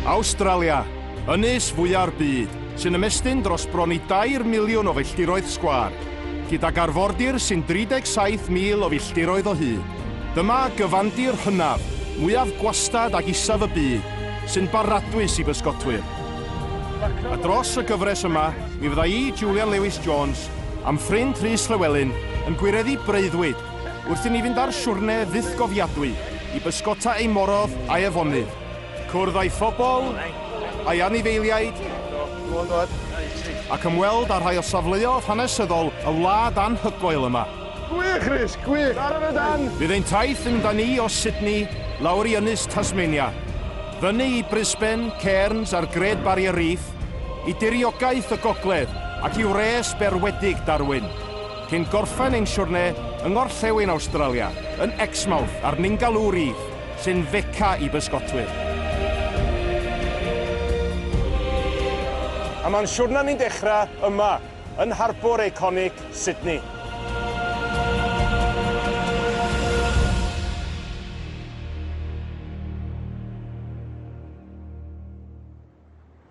Awstralia, ynys fwya'r byd, sy'n ymestyn dros bron i dair miliwn o filltiroedd sgwâr, gydag arfordir sy'n 37,000 o filltiroedd o hyd. Dyma gyfandir hynaf, mwyaf gwastad ac isaf y byd, sy'n baradwys i bysgotwyr. A dros y gyfres yma, mi fydda i, Julian Lewis Jones, a'm ffrind Rhys Llewelyn, yn gwireddu breuddwyd Wrth i ni fynd ar siwrne fythgofiadwy i bysgota ei morodd a'i afonydd, cwrdd â'i phobl, a'i anifeiliaid, ac ymweld â rhai o safleodd hanesyddol y wlad anhygoel yma. Gwych, Rhys, gwych! Ar yn y dan! Bydd ein taith yn da ni o Sydney lawr i ynys Tasmania, fyny i Brisbane, Cairns a'r Great Barrier Reef, i diriogaeth y gogledd ac i wres berwedig Darwin. cyn gorffen ein siwrne yng ngorllewin Awstralia, yn Exmouth ar Ningaloo Reef, sy'n Fecca i bysgotwyr. A mae'n siwrna ni'n dechrau yma, yn harbwr eiconig Sydney.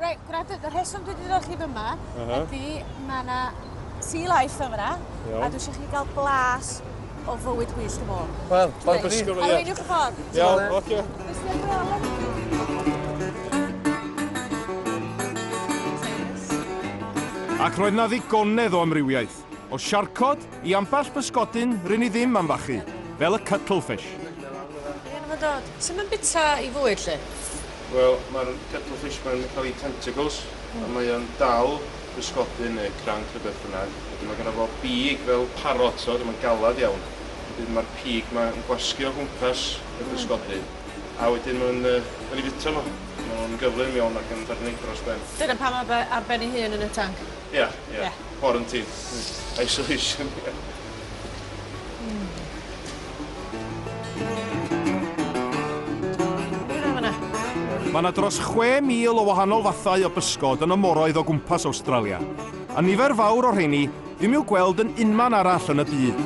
Reit, gwrandwyd, y rheswm dwi wedi dod chi fyma uh -huh. ydy mae yna sea life yma, a dwi eisiau chi gael blas o fywyd wyllt y môr. Wel, bawb yn disgwyl. Arweiniwch y ffordd. Iawn, oce. Ac roedd na ddigonedd o amrywiaeth. O siarcod i ambell bysgodyn rŷn ni ddim am fachu, fel y cuttlefish. Ie, 'na fo'n dod. Sut mae'n bita i fwyd, 'lly? Wel, mae'r cuttlefish 'ma'n cael ei tentacles, a mae o'n dal pysgodyn neu cranc neu beth bynnag. Wedyn mae gynno fo bîg fel parot, t'od, a mae'n galed iawn. Wedyn mae'r pîg 'ma yn gwasgu o gwmpas y pysgodyn, a wedyn maen nhw'n yy cael ei fwyta nhw. Maen nhw'n gyflym iawn ac yn ffermydd dros ben. Dyna pam mae fe ar ben ei hun yn y tanc? Ie, ie. Quarantine. Isolation, ie. Hmm. Be' na fan 'na? Mae yna dros 6,000 o wahanol fathau o bysgod yn y moroedd o gwmpas Awstralia, a nifer fawr o'r rheini ddim i'w gweld yn unman arall yn y byd.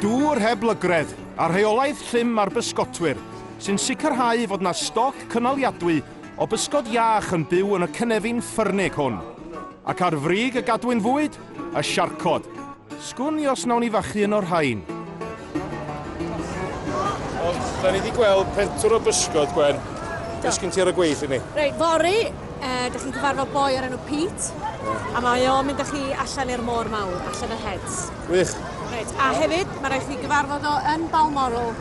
Dŵr heb lygredd, a rheolaeth llym ar bysgotwyr, sy'n sicrhau fod yna stoc cynaliadwy o bysgod iach yn byw yn y cynefin ffyrnig hwn, ac ar frig y gadwyn fwyd, y siarcod. Sgwn i os nawn i fachu un o'r rhain. Ond, da ni wedi gweld pentwr o bysgod, Gwen. Be sgyn ti ar y gweill i ni? Reit, fory, uh, da chi'n cyfarfod boi o'r enw Pete, yeah. a mae o'n mynd â chi allan i'r môr mawr, allan y heads. Wych. Reit, a hefyd, mae rhaid chi gyfarfod o yn Balmoral.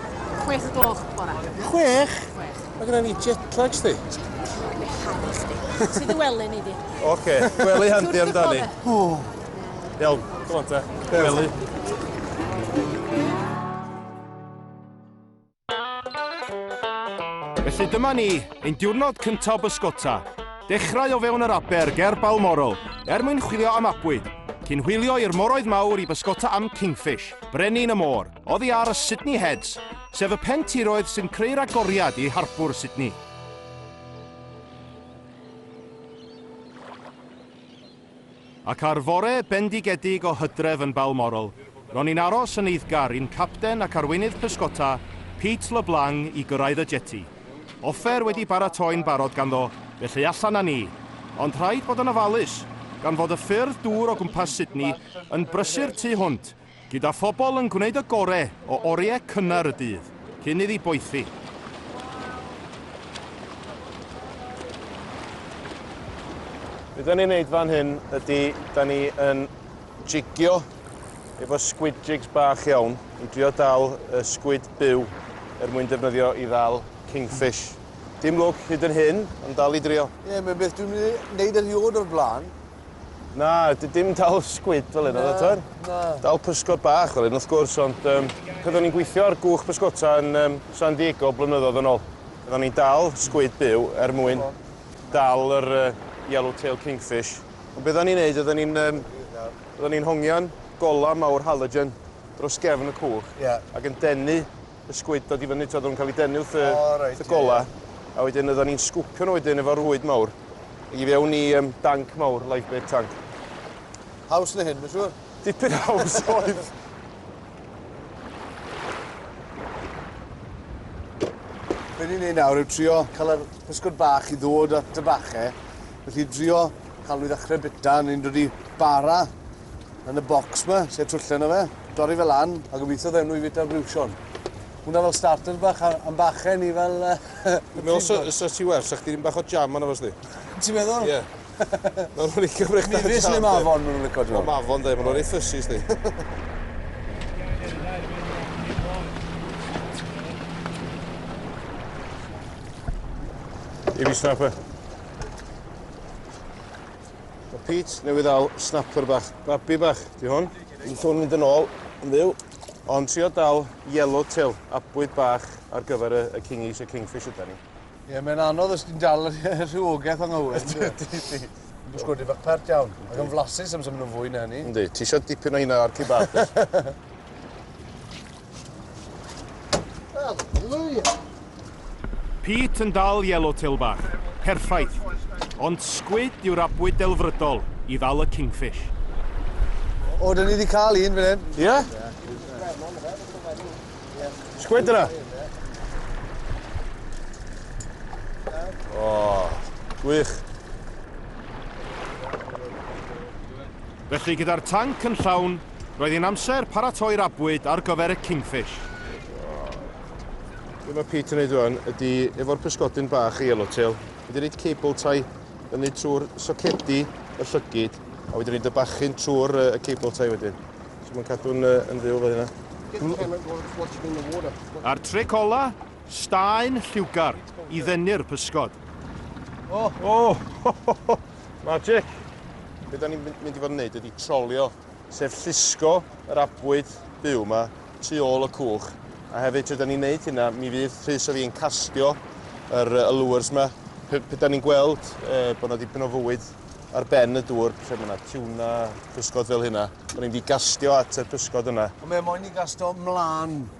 Chwech o gloch bora. Chwech? Chwech. Mae gyda ni jetlag sti. Jetlag, mae harri chdi. Ti dy wely ni di. Oce, gwely handi amdani. Iawn, come on te. Gwely. Felly dyma ni, ein diwrnod cyntaf o bysgota. Dechrau o fewn yr aber ger Balmoral, er mwyn chwilio am abwyd, cyn hwylio i'r moroedd mawr i bysgota am kingfish, brenin y môr. Oddi ar y Sydney Heads, sef y pen tiroedd sy'n creu'r agoriad i Harbwr Sydney. Ac ar fore bendigedig o hydref yn Balmoral, ro'n i'n aros yn eiddgar i'n capten ac arweinydd pysgota, Pete LeBlanc, i gyrraedd y jeti. Offer wedi baratoi'n barod ganddo, felly allan â ni. Ond rhaid bod yn ofalus, gan fod y ffyrdd dŵr o gwmpas Sydney yn brysur tu hwnt Gyda phobl yn gwneud y gore o oriau cynnar y dydd cyn iddi boethi. Be da ni'n neud fan hyn ydy, da ni yn jigio efo squid jigs bach iawn i drio dal y squid byw er mwyn defnyddio i ddal kingfish. Dim lwc hyd yn hyn, ond dal i drio. Ie, mae'n beth dwi'n mynd i wneud erioed o'r blaen. Na, dim dal sgwid fel hyn, oedd e, Na. Dal pysgod bach fel hyn, wrth gwrs, ond um, pan o'n i'n gweithio ar gwch pysgota yn um, San Diego blynyddoedd yn ôl, pan o'n i'n dal sgwid byw er mwyn dal yr uh, yellow tail kingfish. Ond beth o'n i'n neud, oedden ni'n um, oedden ni'n hongian gola mawr halogen dros gefn y cwch yeah. ac yn denu y sgwyd dod i fyny, oedd nhw'n cael eu denu wrth y, oh, right, y gola. Yeah, yeah. A wedyn oedden ni'n sgwpio nhw wedyn efo rwyd mawr i fewn i um, danc mawr, lifebait tank. Haws na hyn, mae'n siŵr? Dipyn haws oedd. Be ni'n ei nawr yw trio cael yr pysgod bach i ddod at y bachau. Felly trio cael nhw i ddechrau bita, ni'n dod i bara Yn y bocs ma, lle twyllen o fe, dorri fe lan a gobeithio ddewn nhw i fita briwsion. Hwna fel starter bach am bachen i fel... Dwi'n meddwl sa, sa ti werth, sa chdi ddim bach o jam yna fos di? Ti'n meddwl? Ie. Mae'n rhoi licio brech da jam. Mi fes le mafon maen nhw'n licio jam. Mafon dde, maen nhw'n ei ffysus di. Ibi snapper. Mae Pete newydd dal snapper bach, babi bach, di hwn. Yn sôn mynd yn ôl, yn fyw. Ond trio dal yellowtail, abwyd bach ar gyfer y, y kingies, y kingfish yda ni. Ie, yeah, mae'n anodd os ti'n dal y rhywogaeth o'n ngywir. Ydy, ydy. Yn bwysgwyd i fach pert iawn. Ac yn flasus am symud nhw'n fwy na hynny. Ydy, ti eisiau dipyn o hynna o'r cibabs. Pete yn dal yellowtail bach, perffaith, ond squid yw'r abwyd delfrydol i ddal y kingfish. O, dyn ni wedi cael un fan hyn. Ie? Squid yna? O, gwych. Felly gyda'r tanc yn llawn, Roedd hi'n amser paratoi'r abwyd ar gyfer y Kingfish. Be mae Pete yn neud rwan ydy efo'r pysgodyn bach yellowtail, mae 'di roid cable tie fyny trwy'r socedi y llygid a wedi roid y bachyn trwy'r uh, y cable tie wedyn. So mae'n cadw'n uh, yn fyw fel hynna. A'r tric ola? Staen lliwgar i ddenu'r pysgod. O! O! Ho, ho, ho! Magic! Be da ni'n mynd i fod yn neud ydy trolio, sef llusgo yr abwyd byw yma tu ôl y cwch. A hefyd, tra da ni'n neud hynna, mi fydd Rhys a fi'n castio yr uh, lures yma. Pe, pe da ni'n gweld uh, bod yna dipyn o fywyd ar ben y dŵr, lle mae yna tiwna, pysgod fel hynna. Da ni'n mynd i gastio at y pysgod yna. Ond mae moyn i gastio mlaen.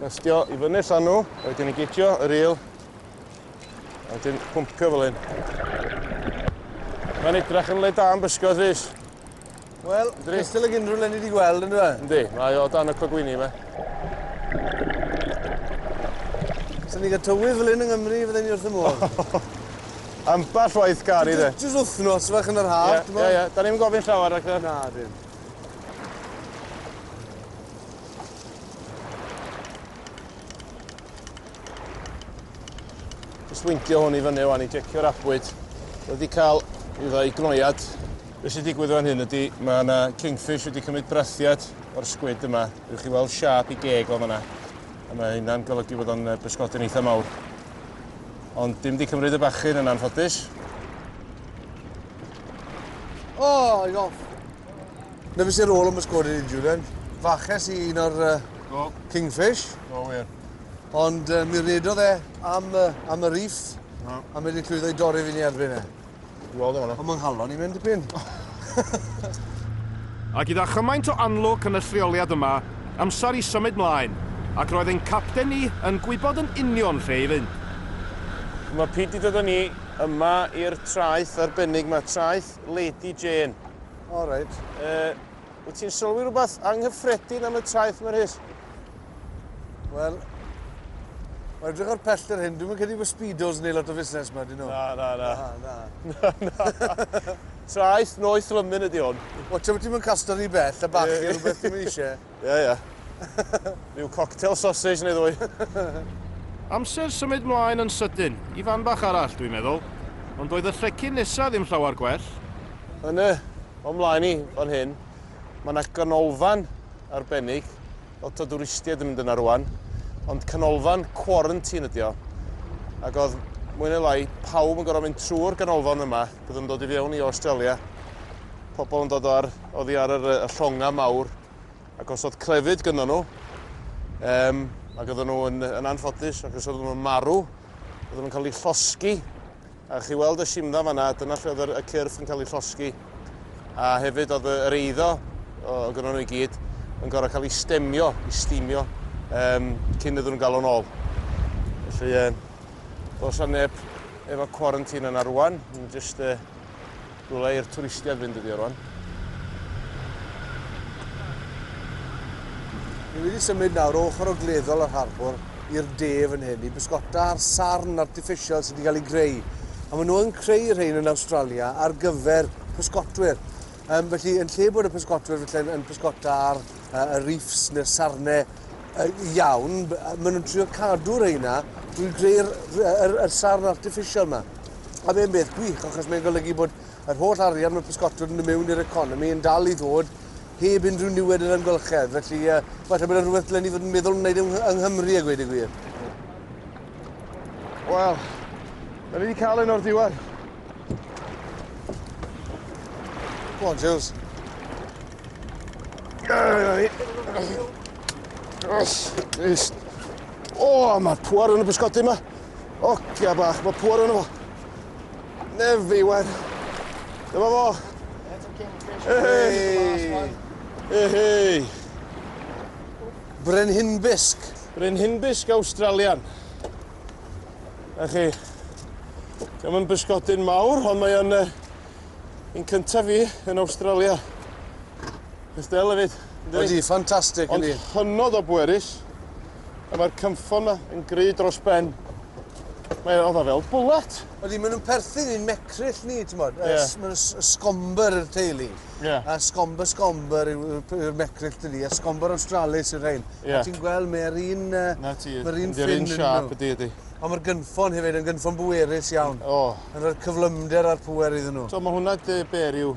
Castio i fyny'r llanw, a wedyn i gigio y ril, a wedyn pwmpio fel hyn. Mae'n edrach yn le da yn bysgod, Rhys. Wel, cystal ag unrhyw le ni wedi gweld, ynddo fe? Yndi, mae o dan y cogwini yma. Sa'n ni'n cael tywydd fel hyn yng Nghymru, fydden ni wrth y modd. Ambell waith gari, dde. Jyst wythnos fach yn yr haf, ti'n Ie, ie, da ni'n gofyn llawer, ac Na, dim. Just wintio hwn i fyny o'n i jecio'r abwyd. Wedi cael i ddau gnoiad. Be sy'n digwydd o'n hyn ydy, mae yna kingfish wedi cymryd brathiad o'r sgwyd yma. Rwy'ch chi weld siap i geg o'n yna. A mae hynna'n golygu bod o'n bysgodyn eitha mawr. Ond dim di cymryd y bachyn yn anffodus. Oh, i gof. Na fe sy'n rôl am y sgwad i ni, Julian. Faches i un o'r uh, Do. Kingfish. Do, wir. Ond uh, mi redodd e am, uh, am y riff, no. a mi wedi llwyddo i dorri fi ni erbyn e. Wel, ddim yna. Ond mae'n halon i mynd y pyn. A gyda chymaint o anlwc yn y lleoliad yma, amser i symud mlaen, ac roedd ein capten ni yn gwybod yn union lle i fynd. Mae Pete wedi dod â ni yma i'r traeth arbennig mae traeth Lord, Lady Jane. O, reit. Uh, wyt ti'n sylwi rhywbeth anghyffredin am y traeth mae'r hys? Wel, Mae'n edrych o'r pell ar hyn, dwi'n mynd credu bod Speedos neu lot o fusnes yma, dyn nhw. Na, na, na. Na, na. na, na. Traeth noeth lymyn ydy hwn. O, ti'n mynd casto ni bell, a bach yeah. rhywbeth ti'n mynd eisiau. Ie, ie. Rhyw cocktail sausage neu ddwy. Amser symud mlaen yn sydyn, i fan bach arall, dwi'n meddwl. Ond doedd y llecyn nesa ddim llawer gwell. Yn y, o mlaen i, fan hyn, mae yna ganolfan arbennig. Lot o dwristiaid yn mynd yna rwan. Ond canolfan quarantine ydi o. Ac oedd mwy neu lai pawb yn gorfod mynd trwy'r ganolfan yma. Byddwn yn dod i fewn i Australia. Pobl yn dod o'r Oddi ar yr, y llongau mawr ac os oedd clefyd gyda nhw, um, ac oedden nhw yn, yn anffodus ac os oedden nhw'n marw, oedden nhw'n cael eu llosgi. A chi weld y simdda fanna, dyna lle oedd y cyrff yn cael eu llosgi. A hefyd oedd yr eiddo, o, o gyda nhw i gyd, yn gorau cael ei stemio, ei stimio, um, cyn iddyn nhw'n gael o'n ôl. Felly, um, dos a neb efo quarantine yna rwan, yn just uh, Rhywle i'r twristiaid fynd ydi o rwan. Ni wedi symud nawr ochr o gleddol yr harbwr i'r de fan hyn i bysgota ar sarn artiffisial sydd wedi cael ei greu. A maen nhw yn creu rhain yn Australia ar gyfer pysgotwyr. Um, felly, yn lle bod y pysgotwyr felly, yn pysgota ar uh, y reefs neu'r sarnau uh, iawn, maen nhw'n trio cadw rheina drwy greu'r er, er, er sarn artiffisial yma. A mae'n beth gwych, achos mae'n golygu bod yr holl arian mae pysgotwr yn y mewn i'r economi yn dal i ddod heb unrhyw niwed yr amgylchedd. Felly, uh, falle bod yna rhywbeth dylen ni fod yn meddwl wneud yng, yng Nghymru a gweud y gwir. Wel, da ni wedi cael un o'r diwedd. Go on, Jules. Yes. O, oh, mae'r pwar yn y bysgotyn yma. Ogia bach, mae pŵer yno fo. Nefi, wen. Dyma fo. Hei! Hei! Brenhinbisg. Brenhinbisg Australian. A chi, Dyma mae'n bysgodyn mawr, ond mae o'n uh, un cyntaf fi yn Australia. Ystel hefyd. Ydy, ffantastig ydy. Ond hynod o bwerus. A mae'r cynffon yma yn gry dros ben. Mae oedd o fel bwlet. Ydy, maen nhw'n perthyn i'n mecryll ni, ti'n bod? Ie. Yeah. Mae'n sgomber yr teulu. Ie. Yeah. A sgomber sgomber yw'r mecryll dydi, a sgomber Australis yw'r rhain. Ie. Yeah. A ti'n gweld, mae'r un... Uh, Na ti, mae'r un ffyn yn siap ydy, ydy. Ond mae'r gynffon hefyd yn gynffon bwerus iawn. O. Oh. Yn rhoi'r cyflymder a'r pwer iddyn nhw. So mae hwnna dy ber yw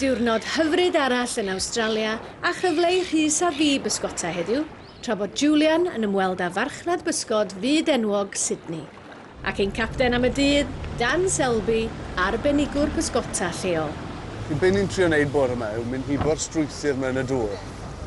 Diwrnod hyfryd arall yn Awstralia a chyfle i Rhys a fi bysgota heddiw, tra bod Julian yn ymweld â farchnad bysgod fyd enwog Sydney. Ac ein capten am y dydd, Dan Selby, arbenigwr pysgota lleol. Be ni'n trio neud bore 'ma yw mynd hibo'r strwythur 'ma yn y dŵr.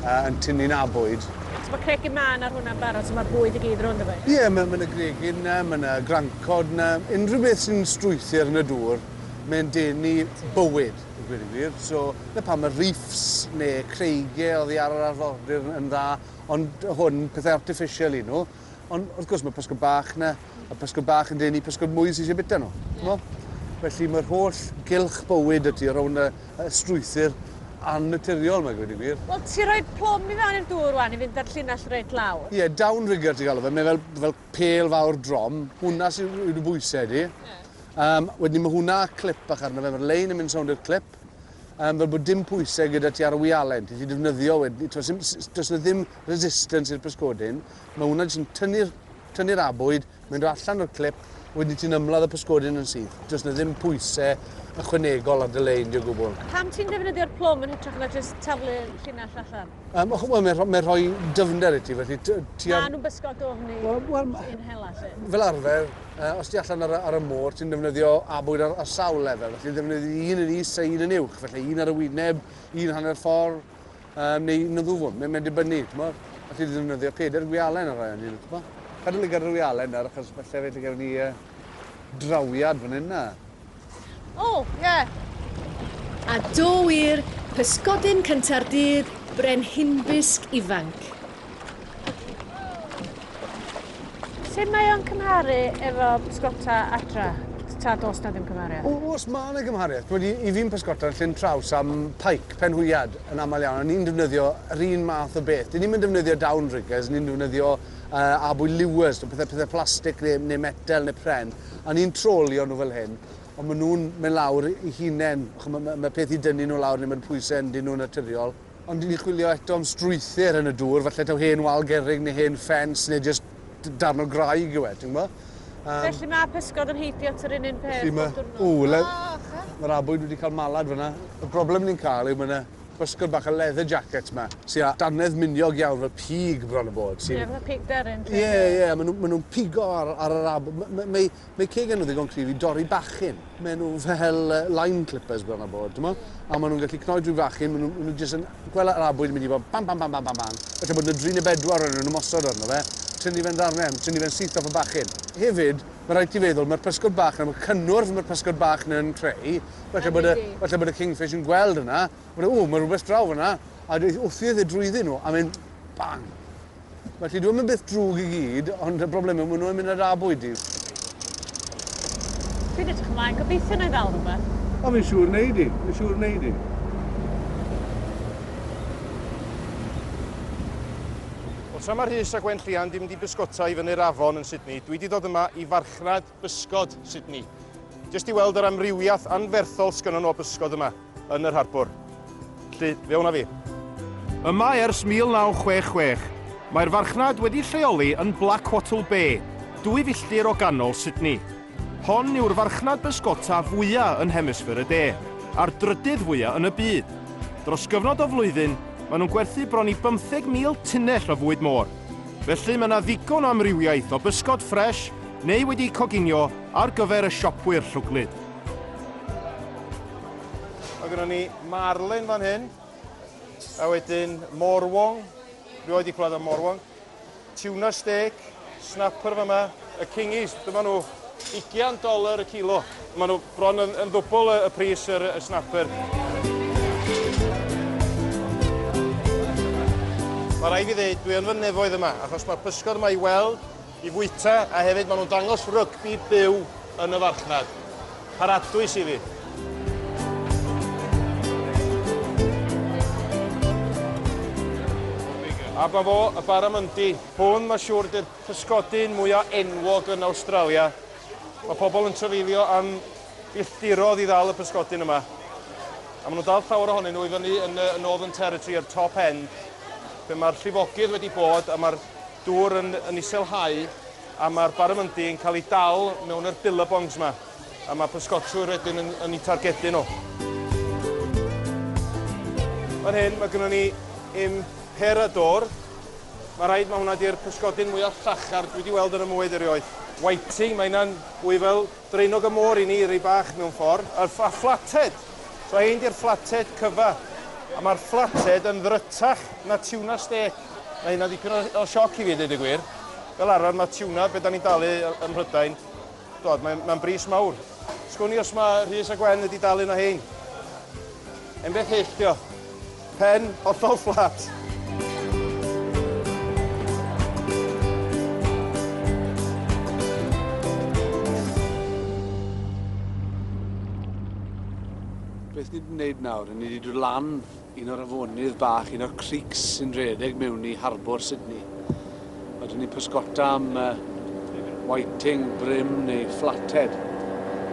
a yn tynnu na bwyd. So ma cregyn mân ar hwnna'n barod so ma'r bwyd i gyd rownd o fe? Ie ma ma na gregyn na, ma na grancod na, unrhyw beth sy'n strwythur yn y dŵr mae'n denu bywyd i gweud y gwir so na pam ma reefs ne creigie oddi ar yr arfordir yn dda ond hwn pethe artiffisial yw nhw. Ond wrth gwrs mae pysgod bach na, a pysgod bach yn denu pysgod mwy sy'n eisiau bita nhw. Yeah. Felly mae'r holl gylch bywyd y tu o rawn y, y strwythyr annaturiol, mae'n gwneud i gwir. Wel, ti rhoi plwm i fewn i'r dŵr wan i fynd ar llinell reit lawr. Ie, yeah, downrigger ti'n galw fe. Mae fel, fel pel fawr drom. Hwna sy'n yw dy bwysau di. Yeah. Um, wedyn mae hwnna clip bach arno fe. Mae'r lein yn mynd sawnd i'r clip. Um, fel bod dim pwysau gyda ti ar y wialen. Ti ti defnyddio wedyn. Does yna ddim resistance i'r pysgodyn, mae hwnna jyst yn tynnu'r tynnu'r abwyd, mae'n dod allan o'r clip, wedyn ti'n ymladd y pysgodyn yn syth. Does na ddim pwysau ychwanegol ar dy le indio gwbl. A pam ti'n defnyddio'r plwm yn hytrach na jyst taflu llinell allan? Um, well, mae'n rhoi, mae rhoi dyfnder i ti, felly... Ti ar... Mae nhw'n bysgo dofn i well, well, i'n hela, lle. Fel arfer, uh, os ti allan ar, ar y môr, ti'n defnyddio abwyd ar, ar sawl lefel. Felly, ddefnyddio un yn is a un yn uwch. Felly, un ar y wyneb, un hanner ffordd, Yy, neu na ddw, mae'n mynd dibynnu, t'mod? Alli di ddefnyddio peder gwialen ar rai o nhw, t'mod? Cadw lygad ar y wialen nawr, achos falle fe gewn ni yy drawiad fan hyn na. O, ie! A do wir, pysgodyn cynta'r dydd, brenhinfysg ifanc. Sut mae o'n cymharu efo pysgota adra? Ta dos na ddim cymhariaeth? Os mae yna gymhariaeth, wedi i fi'n pysgota yn Llyn Traws am pike, penhwyad, yn aml iawn, a ni'n defnyddio yr un math o beth. Dyn ni'n mynd defnyddio down riggers, ni'n defnyddio uh, abwy lewers, pethau, pethau plastig neu, neu metel neu pren, a ni'n trolio nhw fel hyn, ond maen nhw'n mynd lawr i hunain. Mae, mae, mae peth i dynnu nhw lawr neu mae'r pwysau yn dyn nhw'n naturiol. Ond dyn ni'n chwilio eto am strwythyr yn y dŵr, falle taw hen wal gerrig neu hen ffens neu jyst darn o graig yw e, ti'n gwybod? Um, Felly mae pysgod yn heithio at yr un un peth bob diwrnod? O, le... oh, mae'r abwyd wedi cael malad fyna. Y broblem ni'n cael yw mae yna bysgod bach y leather jacket yma, sy'n â danedd miniog iawn fel pig bron y bod. Ie, yeah, fel pig deryn. Ie, ie, maen nhw'n ma nhw pigo ar, ar yr abwyd. Mae, mae, Mae ceg nhw ddigon cryf i dorri bachyn. Mae nhw fel line clippers bron a bod, dyma. A maen nhw'n gallu cnoi drwy fachyn, maen nhw'n nhw jyst yn gweld yr abwyd yn mynd i fod bam, bam, bam, bam, bam, bam. Felly bod yna dri neu bedwar o'n nhw'n ymosod arno fe, tynnu fe'n ddarnau, tynnu fe'n syth off y bachyn. Hefyd, mae rhaid ti feddwl, mae'r pysgod bach yna, y cynnwrf mae'r pysgod bach yna yn creu, falle bod y, falle bod y kingfish yn gweld hwnna, bod e, ww, mae rhywbeth draw fanna, a wrth i e drwyddi nhw, a mae'n bang. Felly dyw e ddim yn beth drwg i gyd, ond y broblem yw maen nhw'n mynd ar abwyd di. Dwi'n edrych ymlaen, gobeithio na i ddal rhywbeth. O, fi'n siŵr wneud i, fi'n siŵr wneud i. Wel, tra mae Rhys a Gwenllian di mynd i bysgota i fyny'r afon yn Sydney, dwi di dod yma i farchnad Bysgod, Sydney. Jyst i weld yr amrywiaeth anferthol sgynnon nhw o bysgod yma yn yr harbwr. Lly, fe wna fi. Yma ers 1966, mae'r farchnad wedi lleoli yn Blackwattle Bay, dwy filltir o ganol Sydney. Hon yw'r farchnad bysgota fwya yn hemisffer y de, a'r drydydd fwya yn y byd. Dros gyfnod o flwyddyn, maen nhw'n gwerthu bron i 15,000 tunnell o fwyd môr. Felly mae yna ddigon o amrywiaeth o bysgod ffres Neu wedi coginio ar gyfer y siopwyr llwglyd. Mae gynnon ni marlin fan hyn, a wedyn morwong, rhywbeth wedi clywed am morwong, tuna steak, snapper fan yma, y kingies, dyma nhw, 20 dolar y kilo. Mae nhw bron yn, yn ddwbl y, y pris yr, y snapper. Mae rhaid i ddweud, dwi yn fy nefoedd yma, achos mae'r pysgod yma i weld i fwyta a hefyd maen nhw'n dangos rygbi byw yn y farchnad. Paradwys i fi. A ba fo, y baramundi. Hwn mae siwr di'r pysgodyn mwyaf enwog yn Awstralia. Mae pobl yn trafeilio am filltirodd i ddal y pysgodyn yma. A maen nhw'n dal llawer ohonyn nhw i fyny yn y Northern Territory a'r Top End, lle mae'r llifogydd wedi bod a mae'r dŵr yn yn iselhau a mae'r barramundi yn cael ei dal mewn yr billabongs ma a mae pysgotwyr wedyn yn yn eu targedu nhw. Fan hyn mae gynnon ni im perador. Mae rhaid mae hwnna di'r pysgodyn mwya llachar dwi wedi weld yn y mwy erioed. Whiting, mae hynna'n fwy fel Draenog y môr i ni, ry bach mewn ffordd. A fflated! So hein di'r fflated cyfa. A mae'r fflated yn ddrytach na tiwna stêc. Mae hynna'n dipyn o sioc i fi, deud y gwir. Fel arfer, mae tiwna, be da ni'n dalu ym Mhrydain, dod, mae'n mae bris mawr. Sgwn i os mae Rhys a Gwen wedi dalu na hein. Enbeth hyll, dio. Pen hollol fflat. Beth ni 'di neud nawr, ni 'di dod lan un o'r afonydd bach, un o'r creeks sy'n redeg mewn i harbwr Sydney. Ydyn ni'n pysgota am whiting, brim neu flathead.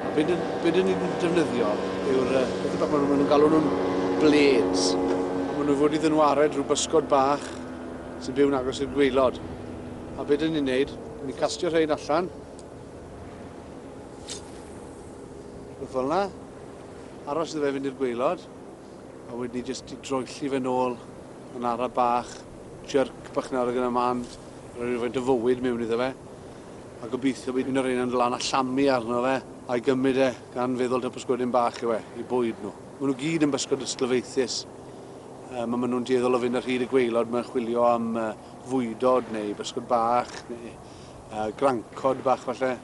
A be dyn be dyn ni'n defnyddio yw'r yy pethe bach ma' nw ma' nw'n galw nhw'n blades. A ma' nw fod i ddynwared rhyw bysgod bach sy'n byw'n agos i'r gwaelod. A be dyn ni'n neud, dyn ni'n castio rhein allan. Rwbeth fel 'na. Aros iddo fe fynd i'r gwaelod. A wedyn ni jyst droelli fe nôl yn ara bach. Jyrc bach nawr ag yna mân, rhoi rhywfaint o fywyd mewn iddo fe, a gobeithio bydd un o reina'n dod lan a llamu arno fe, a'i gymryd e, gan feddwl taw pysgodyn bach yw e, i bwyd nhw. Maen nhw gyd yn bysgod ysglyfaethus, yym, a maen nhw'n dueddol o fynd ar hyd y gwaelod 'ma yn chwilio am fwydod neu bysgod bach neu grancod bach falle.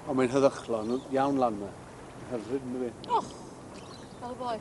Ond mae'n heddychlon iawn lan 'ma. Mae'n hyfryd, yndyw 'i? Och! Fel y boi.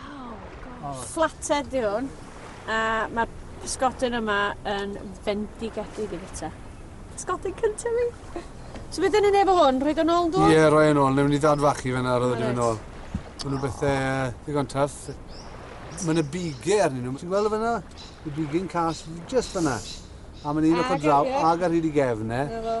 Waw, gosh. Flathead di hwn, a mae'r pysgodyn yma yn fendigedig i fita. Pysgodyn cyntaf fi. So beth yn ei nefo hwn? Rhaid o'n ôl dod? Ie, yeah, rhoi yn ôl. Newn ni dad fach i fe na, roedd yn ôl. Mae nhw bethau uh, ddigon tuff. Mae yna bigau arnyn nhw. Ti'n gweld y fyna? Y bigau'n cas just fyna. A mae'n un ochr draw ag ar hyd i gefn, e.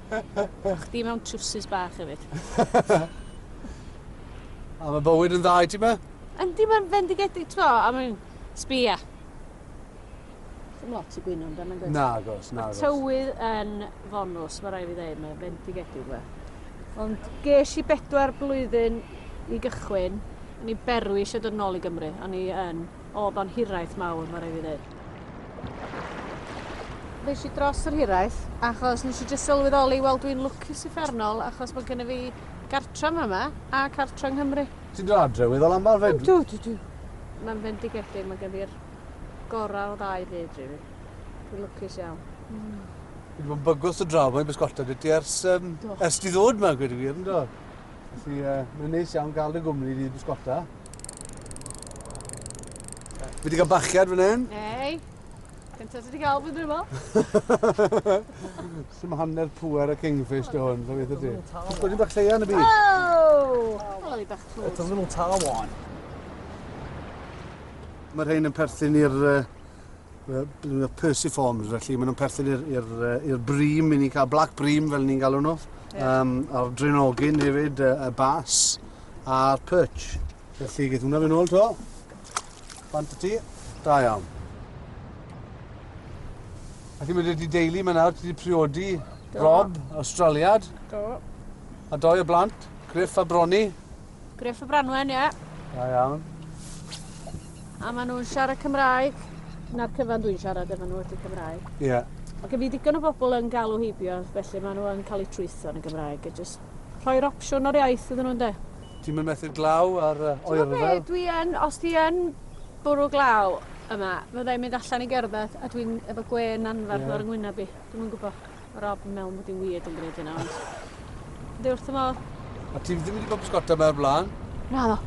A chdi mewn trwsus bach hefyd. a mae bywyd yn dda i ti ma? Yndi, mae'n fendigedig tro, a mae'n sbia. Ddim lot i gwyno amdano, gwyd. Na, gos, na, gos. Tywydd yn fonws, mae rai fi ddeud, mae'n fendigedig fe. Ond ges i bedwar blwyddyn i gychwyn, ni berwys a dod nôl i Gymru, a ni yn o, bo'n hiraeth mawr, mae rai fi ddeud. Nes i dros yr hiraeth, achos nes i jyst sylweddoli, wel dwi'n lwcus uffernol, achos bod gen i fi gartra yma a cartra yng Nghymru. Ti'n dod adre weddol aml fed? Dw, dw, dw. Mae'n fendigedig, mae gen fi'r gorau o ddau fyd, rili. Dwi'n lwcus iawn. Mm. Fi wedi bod yn bygwth o draw, mae'n bysgota dy ti ers, um, ers di ddod yma, gwedi gwir, ynddo? Felly, uh, mae'n neis iawn gael dy gwmni di bysgota. Fi wedi cael bachiad fan hyn. Ei, cyntaf ti wedi cael fy dwymo. Sy'n hanner pwer y kingfish dy hwn, fe beth ti. Ysgol ni'n bach lleia yn y byd. Oh! Wel, i bach tlwyd. It's a little towel. Mae'r rhain yn perthyn i'r uh, Yy Persiforms felly ma' nw'n perthyn i'r i'r yy i'r Bream 'yn ni'n ca'l Black Bream fel ni'n galw nhw. Ie. Yym a'r Drenogyn hefyd yy y Bass a'r Perch. Felly geth hwnna fyn' nôl to. Bant y ti. Da iawn. Felly ma' 'dy ti deulu ma' nawr ti 'di priodi Rob, Awstraliad. Do. A dou o blant, Griff a Bronnie. Gruff y Branwen, ie? Da iawn. A maen nhw'n siarad Cymraeg. Na'r cyfan dwi'n siarad efo nhw ydy Cymraeg. Ie. Yeah. Mae gen fi digon o bobl yn galw heibio, felly maen nhw yn cael eu trwytho yn y Gymraeg. A just rhoi'r opsiwn o'r iaith iddyn nhw'n de. Ti'n mynd methu'r glaw ar uh, oerfel? Dwi yn, os ti yn bwrw glaw yma, fyddai'n mynd allan i gerdded a dwi'n efo gwen anfarth yeah. ar yng ngwyneb i. Dwi'n yn gwybod. Rob yn meddwl bod hi'n weird yn gwneud hynna, ond... Ydy wrth y modd. A ti ddim wedi bod pysgota mewn blaen? Na, no.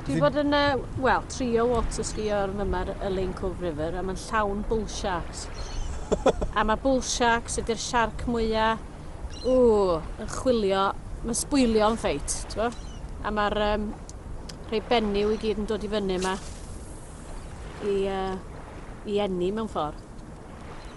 Dwi bod yn, uh, wel, trio water ski o'r mymer y Lane Cove River, a mae'n llawn bull sharks. a mae bull sharks ydy'r siarc mwyaf, ww, yn chwilio, mae'n sbwylio yn ffeit, ti'n A mae'r um, rhai benyw i gyd yn dod i fyny yma i, uh, i enni mewn ffordd.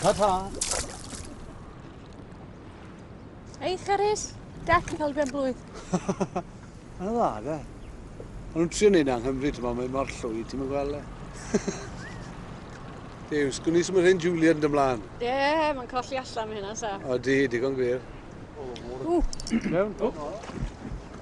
Ta ta. Ei, Charis, Jack yn cael ben blwydd. Mae'n dda, de. Ond nhw'n trio neud yng Nghymru, ti'n mae mor llwy, ti'n mynd gweld e. Dew, sgwn i symud hyn Julian yn dymlaen. Ie, yeah, mae'n colli allan mae hynna, sa. O, di, digon gwir. Ww. Mewn? Ww.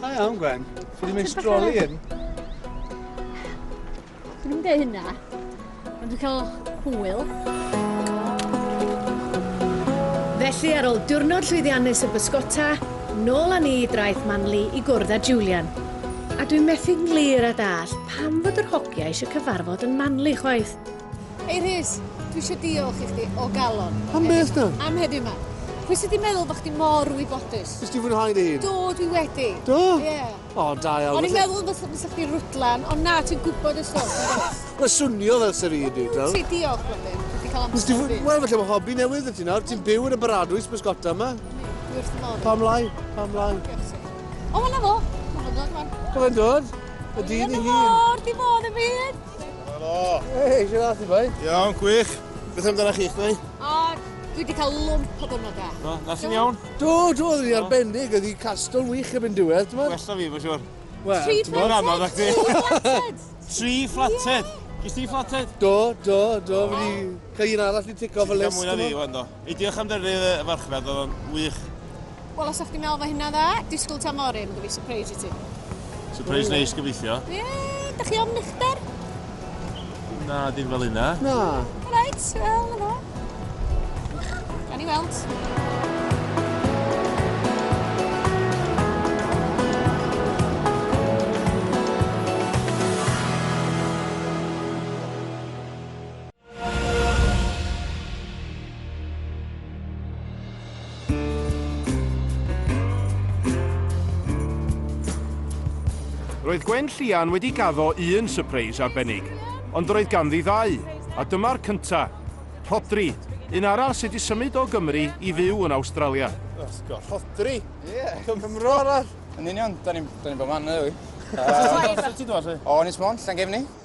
Da iawn, Gwen. Ti wedi meistroli hyn. Dwi'n mynd ei hynna. Ond dwi'n cael hwyl. Felly, ar ôl diwrnod llwyddiannus y bysgota, nôl â ni i draeth Manly i gwrdd â Julian. A dwi'n methu nglir a dall pam fod yr hogia eisiau cyfarfod yn Manly chwaith. Hei Rhys, dwi eisiau diolch i chdi o galon. Am beth na? Am heddiw ma. Pwy sydd wedi meddwl bod chdi mor wybodus? Nes ti fwynhau dy hun? Do, dwi wedi. Do? Ie. Yeah. O, da iawn. O'n i'n meddwl bod fysa chdi rwdlan, ond na, ti'n gwybod y stwff. Mae swnio fel sy'n rhaid i, do? Ti diolch, Blodyn. Wedi cael amser i fi. Wel, felly mae hobi newydd y ti nawr. Ti'n byw yn y baradwys bysgota yma. Dwi wrth modd. Pam lai, pam lai. O, mae'n fo. Mae'n dod, mae'n. Mae'n dod. Y dyn i hi. Mae'n dod, di bod y byd. Helo! Hei, eisiau dda ti, bai? Iawn, gwych. Beth amdana chi, chdi? O, dwi wedi cael lwmp o dwrnod da. Do, na sy'n iawn? Do, do, dwi arbennig, ydi castol wych erbyn diwedd, ti'n Wella fi, mae'n siwr. Wel, Tri ti'n gwbod? flated! Tri flated! Gis ti flated? Do, do, do, fi... Ga un arall i tico fy list. Ti'n cael mwy na fi, Wendo. I diolch am dynnu y farchnad, oedd o'n wych. Wel, os o'ch ti'n meddwl fo hynna dda, disgwyl ta mori, mynd i fi surprise i ti. Surprise mm. neis gyfeithio. Ie, yeah, da chi ofn uchder? Na, dim fel hynna. Na. Reit, wel, yna. Gan i weld. Roedd Gwen Llian wedi gaddo un sypreis arbennig, ond roedd ganddi ddau, a dyma'r cynta. Rhodri, un arall sydd wedi symud o Gymru i fyw yn Awstralia. Osgo, Rhodri? Ie. Cymro arall. Yn union, da ni'n ni bod man yna, yw. Os ti'n dod, lle? O, Ynys Môn, Llangefni.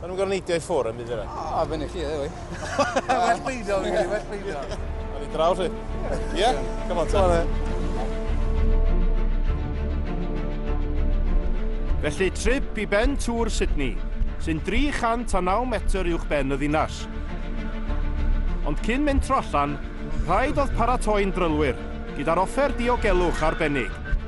Maen nhw'n gorfod neidio i ffwr yn byd yna. O, fyny chi yw i. Well peidio, fi'n credu, well peidio. Ar ei draw chi. Ie? Come on, Tom. Felly, trip i ben tŵr Sydney, sy'n 309 metr uwch ben y ddinas. Ond cyn mynd tro allan, rhaid oedd paratoi'n drylwyr, gyda'r offer diogelwch arbennig.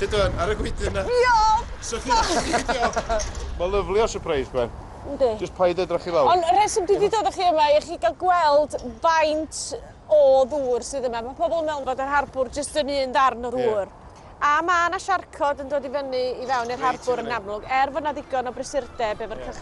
Tyd o'n, ar y gwydyn na. Diolch! So chi'n allu diolch. Mae lyfli o surprise Ben. Yndi. Just paid edrach i lawr. Ond y rheswm dwi 'di dod â chi yma i chi gael gweld faint o ddŵr sydd yma. Mae pobl yn meddwl fod yr harbwr jyst yn un darn o ddŵr. Ie. A mae 'na siarcod yn dod i fyny i fewn i'r harbwr yn amlwg, er fod 'na ddigon o brysurdeb efo'r cychod.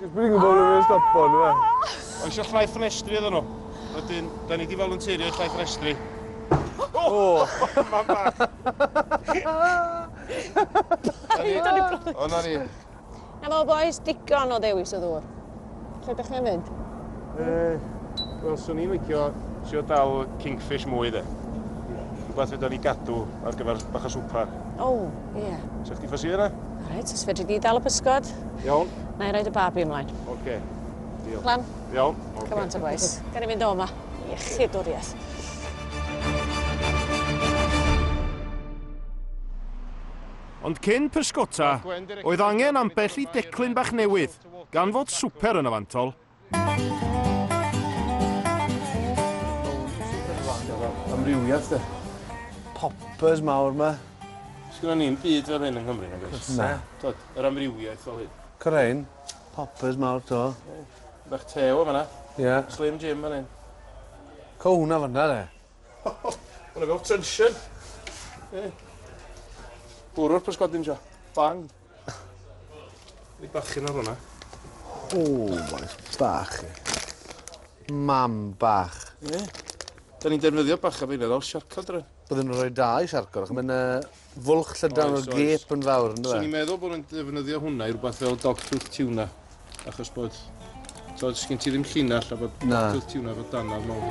Dwi'n gwybod bod nhw'n stopo nhw. Mae eisiau llai ffenestri iddyn nhw. Wedyn, da ni wedi volunteerio llai ffenestri. O! Mae'n bach. O, na ni. Na fo, boys, digon o ddewis o ddŵr. Lle ydych chi'n mynd? Wel, swn i'n licio sio dal kingfish mwy, de. Rhywbeth fydda ni gadw ar gyfer bach o swper. O! Ie. Yeah. Sech chdi ffosi yna? Alright, os fedri di dal y pysgod. Iawn. Na i roed y babi ymlaen. Oce. Okay. Diolch. Lan. Iawn. Okay. Come on to boys. Gan i fynd o yma. Iechyd o'r ieth. Ond cyn pysgota, oedd angen ambell i declyn bach newydd, gan fod swper yn y fantol, Amrywiaeth de. Poppers mawr ma. Sgynnon ni'n byd fel hyn yng Nghymru nag oes? Na. Tod, yr amrywiaeth fel hyn. Cyrrain, poppers mawr to. Bach tew o fanna. Ie. Yeah. Slim Jim fan hyn. Co hwnna fanna de. Hwnna fel tension. Ie. Bwrw'r pysgodyn sio. Bang. Ni bachyn ar hwnna. O, maes bach. Mam bach. Ie. Da ni'n defnyddio bach am ein ôl siarcod rhaid. Byddwn yn rhoi da i siarcod, ac mae'n fwlch llydan o'r gep yn fawr, yn dweud? Swn i'n meddwl bod nhw'n defnyddio hwnna i rhywbeth fel dogtooth tuna. Achos bod, tod, sgyn ti ddim llinell a bod Na. botwth ti hwnna fod danaf mawr.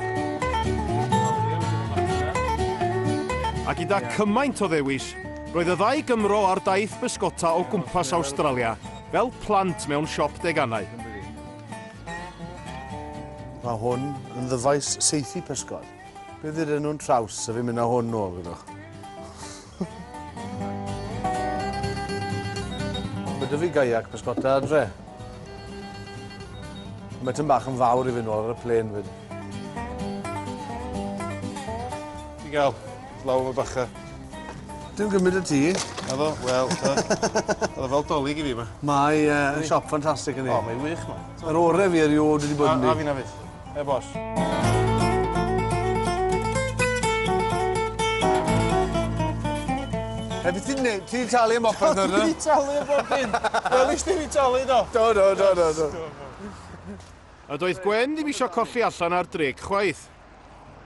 A gyda cymaint o ddewis, roedd y ddau Gymro ar daith bysgota o gwmpas Awstralia fel plant mewn siop deganau. Mae hwn yn ddyfais seithi pysgod. Bydd iddyn nhw'n traws a fi'n mynd â hwn nôl, gwydwch. Mae dy fi gaiac pysgota adre. Mae tyn bach yn fawr i fynd nôl ar y plen fyd. Ti gael, law am y bacha. Dim gymryd y ti. Efo, wel, ta. Oedd fel dolyg i fi yma. Mae uh, siop ffantastig yn ei. O, mae'n wych yma. Yr orau fi erioed wedi bod yn ni. A, a fi na fyd. E bos. Heb i ti'n neud, ti'n talu am offer dod yna? Ti'n talu am bob dim. Wel, eich ti'n talu do. Do, do, do, do, do. A doedd Gwen ddim eisiau colli allan ar dric chwaith.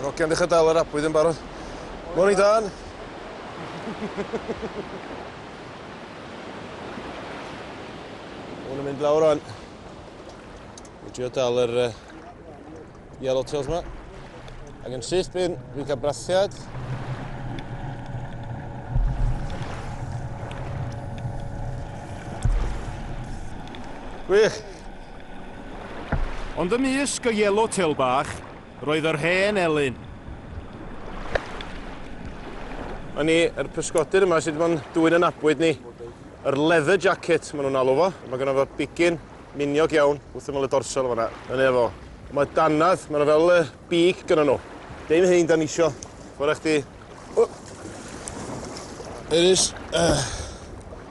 Yr ogia'n dechra dal yr abwyd yn barod. Morning Dan! Hwn yn mynd lawr rŵan. Dwi'n trio dal yr yy Yellow tails yma. Ac yn syth bin, fi'n cael brathiad. Wych! Ond ymysg y yellow tail bach, roedd yr hen elyn. Yn ni, yr pysgodyr yma sydd wedi bod yn dwy'n ynabwyd ni, yr leather jacket, maen nhw'n alw fo. Mae gen fo bigyn, Miniog iawn, wrth ymyl y dorsal fanna. Yn e fo. Mae dannedd, mae'n fel y big gyda nhw. Dim hyn da ni isio. Mae'n rhaid chdi... It is. Uh.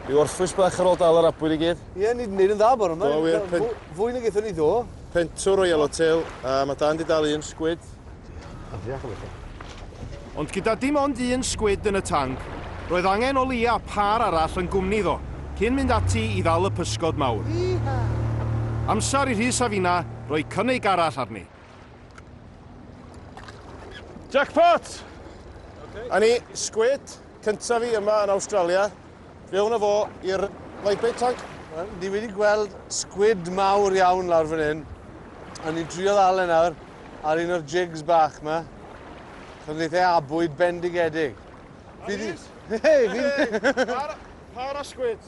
I orffwys bach ar ôl dal yr abwyr i gyd. Ie, ni wedi gwneud yn dda bore yma. Do, wir. Fwy na gaethon ni ddo. Pentwr o yellow tail, a mae Dan di dal un sgwyd. Ond gyda dim ond un sgwid yn y tanc, roedd angen o leia pâr arall yn gwmni iddo, cyn mynd ati i ddal y pysgod mawr. Amser i Rhys a Fina roi cynnig arall arni. Jackpot! Okay. A ni, sgwid, cyntaf fi yma yn Awstralia. Mewn â fo i'r lifeboat tank. Wel, ni wedi gweld sgwid mawr iawn lawr fan hyn. A ni'n trio ddal e nawr ar un o'r jigs bach ma. Chos wneith e abwyd bendigedig. Fi di... Hei, fi di... Par o sgwids.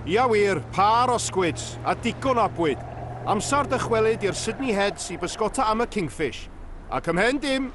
Ia wir, par o sgwids, a digon o abwyd. Amser dychwelyd i'r Sydney Heads i bysgota am y Kingfish. Ac ymhen dim,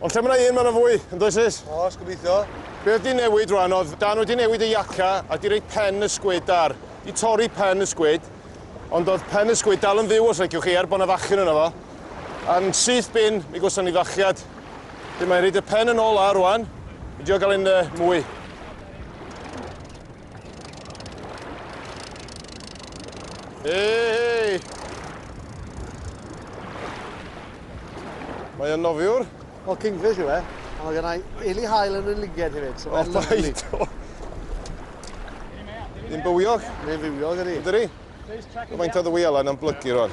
Ond lle mae yna un mae yna fwy, yn does Rhys? Oes, gobeithio. Be oedd di newid rwan oedd Dan wedi newid y iaca a di rei pen y sgwyd ar. Di torri pen y sgwyd, ond oedd pen y sgwyd dal yn fyw os leciwch chi er bod yna fachyn yna fo. A'n syth bin, mi gwson ni fachiad. Di mae'n rhaid y pen yn ôl a rwan, mi dio gael un uh, mwy. Hei! Mae o'n nofiwr. O, kingfish yw e. A mae gennau Eli Hael yn y liged hefyd. So o, bai to. Yn bywiog? Yn bywiog, ydy. Ydy. Faint o ddwy alan yn blygu rwan?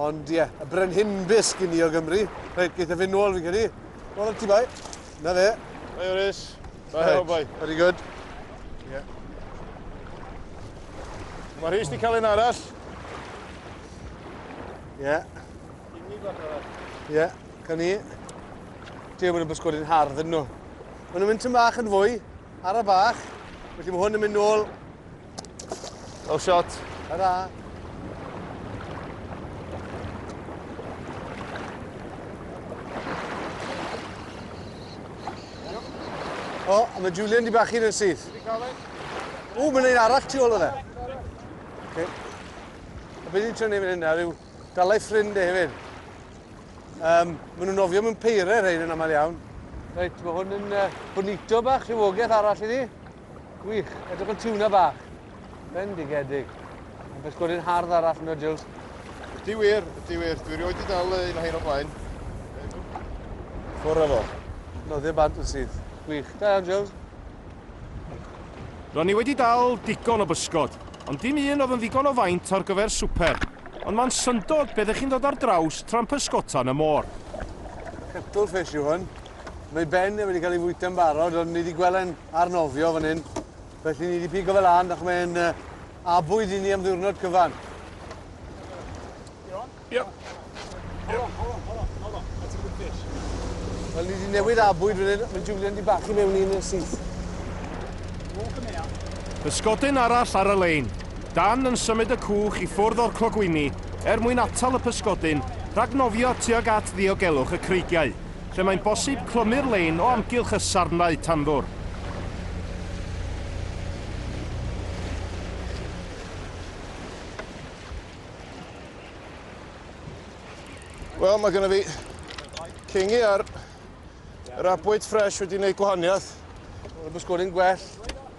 Ond ie, y brenhinbys gin i o Gymru. Reit, geith e fyn' nôl fi'n credu. Nôl at ti boi. Na fe. Hi Orys. Da iawn boi. Very good. Ie. Mae Rhys di cael un arall. Ie. Gyn ni bach arall. Ie, gan ni. Dwi ddim yn y bysgod yn hardd yn nhw. Mae nhw'n mynd tyn bach yn fwy, ar y bach. Felly mae hwn yn mynd nôl Well shot. Hurra. O, oh, mae Julian di bachu yn syth. O, mae'n ein arall tu ôl yna. Okay. A beth ni'n trio neud fan hynna yw dalai ffrind e hefyd. Um, maen nhw'n ofio mewn peirer hein yn aml iawn. Reit, mae hwn yn uh, bonito bach, rhywogaeth arall i ni. Gwych, edrych yn tiwna bach. Bendigedig. Yn pysgodi'n hardd arall yno, Jules. Ydy wir, ydy wir. Dwi rioed i dal un o hyn o blaen. Ffwr o fo. No, ddim bant yn sydd. Gwych. Da iawn, Jules. Ro'n i wedi dal digon o bysgod, ond dim un oedd yn ddigon o faint ar gyfer swper. Ond mae'n syndod beth ych chi'n dod ar draws tra'n pysgota yn y môr. Cuttlefish yw hwn. Mae Ben wedi cael ei fwyta'n barod, ond ni wedi gweld e'n arnofio fan hyn. Felly ni wedi pigo fe lan, ac mae'n uh, abwyd i ni am ddiwrnod cyfan. Yep. Holo, holo, holo, holo. That's a good fish. Wel, ni wedi newid abwyd fan hyn. Mae Julian di bachu mewn un yn syth. Pysgodyn arall ar y lein. Dan yn symud y cwch i ffwrdd o'r clogwyni er mwyn atal y pysgodyn rhag nofio tuag at ddiogelwch y creigiau. lle mae'n bosib clymu'r lein o amgylch y sarnau tanddwr. Wel, mae gennym fi cingi ar yr abwyd ffres wedi gwneud gwahaniaeth. Mae'n gwsgoli'n gwell.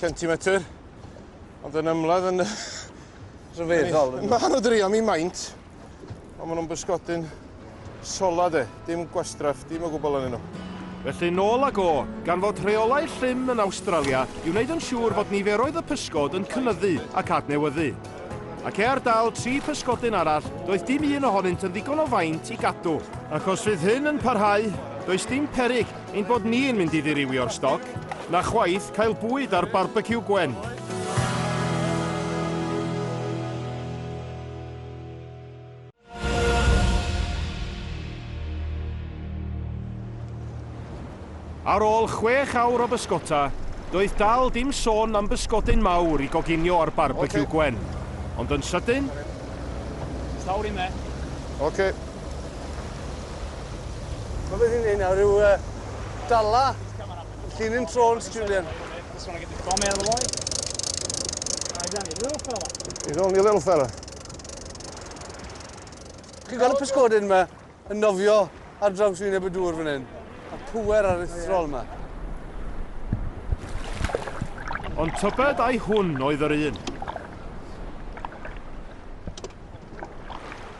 centimetr, ond yn ymladd yn rhyfeddol. Mae nhw drio mi maint, ond maen nhw'n bysgodyn sola de, dim gwastraff, dim o gwbl yn nhw. Felly nôl ag o, gan fod rheolau llym yn Awstralia i wneud yn siŵr fod niferoedd y pysgod yn cynyddu ac adnewyddu. Ac e ar dal tri pysgodyn arall, doedd dim un ohonynt yn ddigon o faint i gadw. Ac os fydd hyn yn parhau, does dim peryg Ein bod ni yn mynd i ddirywio'r stoc, na chwaith cael bwyd ar barbeciw Gwen. Ar ôl chwech awr o bysgota, doedd dal dim sôn am bysgodyn mawr i goginio ar barbeciw Gwen. Ond yn sydyn... Oes lawr i me. Oce. Mae wedi gwneud nawr yw uh, dala llinyn trôns, Julian. Just want to get the bomb out of the way. He's only a little fella. He's only a little fella. Chi'n gweld y pysgodyn yma yn nofio ar draws wyneb y dŵr fan hyn? A pwer ar eithriol yma. Ond tybed ai hwn oedd yr un?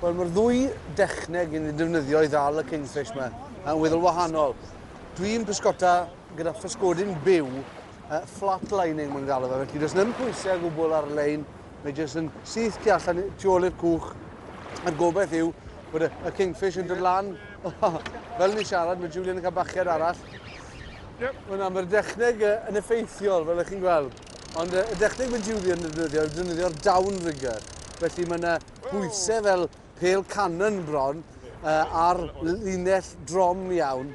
Wel, mae'r ddwy dechneg yn ei defnyddio i ddal y kingfish yma, yn weddol wahanol. Dwi'n pysgota gyda physgodyn byw, uh, flat lining mae'n galw fe, felly does ddim pwysau o gwbl ar y lein, mae jyst yn syth tu allan tu ôl i'r cwch. A'r gobaith yw bod y, y kingfish yn dod lan. Fel ni siarad, mae Julian yn cael bachiad arall. Yep. Mae'n am yr dechneg yn effeithiol, fel ych chi'n gweld. Ond y dechneg mae Julie yn defnyddio yw defnyddio'r downrigger. Felly mae yna bwysau fel pel cannon bron uh, ar linell drom iawn.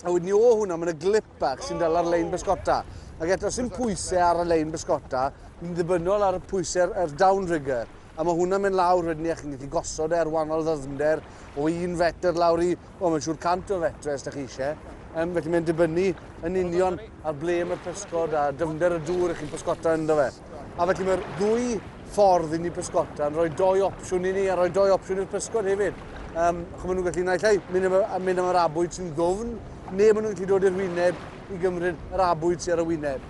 A wedyn ni o hwnna mae yna glip bach sy'n dal ar lein bysgota. Ac eto sy'n pwysau ar y lein bysgota, ni'n ddibynnol ar y pwysau'r er downrigger. A mae hwnna'n mynd lawr wedyn ni ac yn gallu gosod e ar wahanol ddyfnder o un fetr lawr i Wel, mae'n siŵr 100 o fetre os da chi eisiau. Um, felly mae'n dibynnu yn union ar ble mae'r pysgod a dyfnder y dŵr ych chi'n pysgota ynddo fe. A felly mae'r ddwy ffordd i ni pysgota yn rhoi doi opsiwn i ni a rhoi doi opsiwn i'r pysgod hefyd. Um, chw maen nhw'n gallu naill ai mynd am, mynd am yr abwyd sy'n ddofn, neu maen nhw'n gallu dod i'r wyneb i gymryd yr abwyd sy'n ar y wyneb.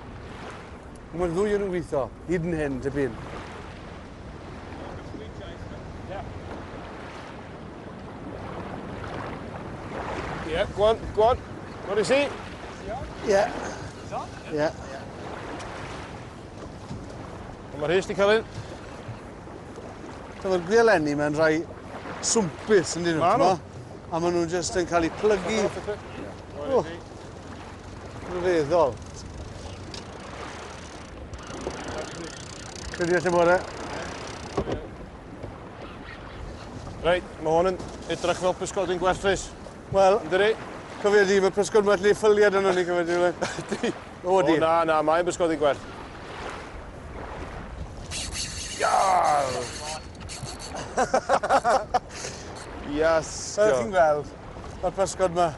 Mae'r ddwy yn ymwytho, hyd yn hyn, tipyn. Yeah, go on, go on. What is he? Yeah. Yeah. Mae'r hys di cael un. Dyma'r gwielenni mae'n rhai swmpus yn dyn nhw. Maen nhw. A maen nhw'n just yn cael eu plygu. Rhyfeddol. Credu at y bore. Reit, mae hwn yn edrych fel pysgodyn gwerthus. Wel, Dyri? cofio di, mae pysgod mae lle ffyliad yno ni cofio di. Ydy. O, di. O, na, na, mae'n pysgodyn gwerth. Iar! Iasgo. Fel chi'n gweld, mae'r pysgod mae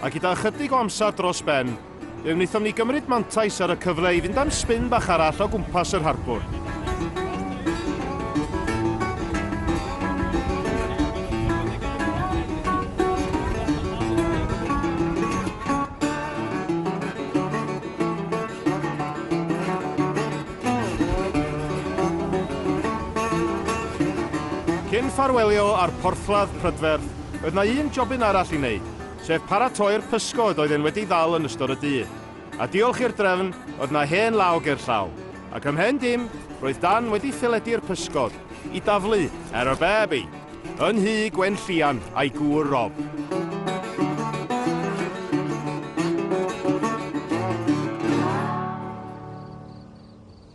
A gyda ychydig o amser dros ben, fe wnaethom ni gymryd mantais ar y cyfle i fynd am sbin bach arall o gwmpas yr harbwr. Cyn ffarwelio â'r porthladd prydferth, Oedd 'na un jobyn arall i wneud, sef paratoi'r pysgod oedd e'n wedi ddal yn ystod y dydd. A diolch i'r drefn, oedd 'na hen law ger llaw, ac ym mhen dim, roedd Dan wedi theledu'r pysgod i daflu ar y babi yn nhŷ Gwenllian a'i gŵr Rob.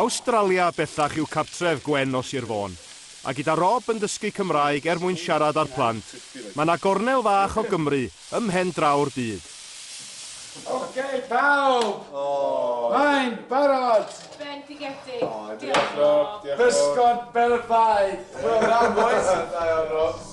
Awstralia bellach yw cartref Gwen o Sir Fôn, a gyda Rob yn dysgu Cymraeg er mwyn siarad â'r plant, mae 'na gornel fach o Gymru ym mhen draw'r byd. Ok pawb! Mae'n barod! Bendigedig! Diolch Rob! Pysgod Belfaidd! Wel da bois! Da iawn Rob!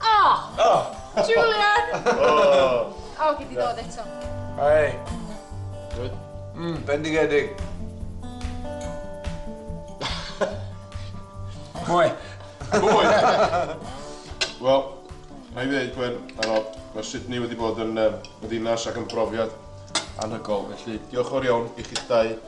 Oh! Julian! O, gei di ddod eto. Hei. Good. Mm, bendigedig. Mwy. Mwy! Wel, na i ddeud, Gwen, ano, mae Sydney wedi bod yn um, ddinas ac yn brofiad anhygol, felly diolch o'r iawn i chi'ch dau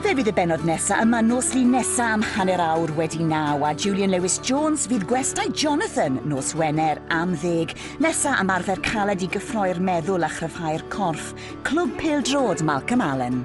Fe fydd y bennod nesa yma nos Lun nesa am hanner awr wedi naw a Julian Lewis Jones fydd gwestai Jonathan nos Wener am ddeg. Nesa am arfer caled i gyffroi'r meddwl a chryfhau'r corff. Clwb Pêl Drod Malcolm Allen.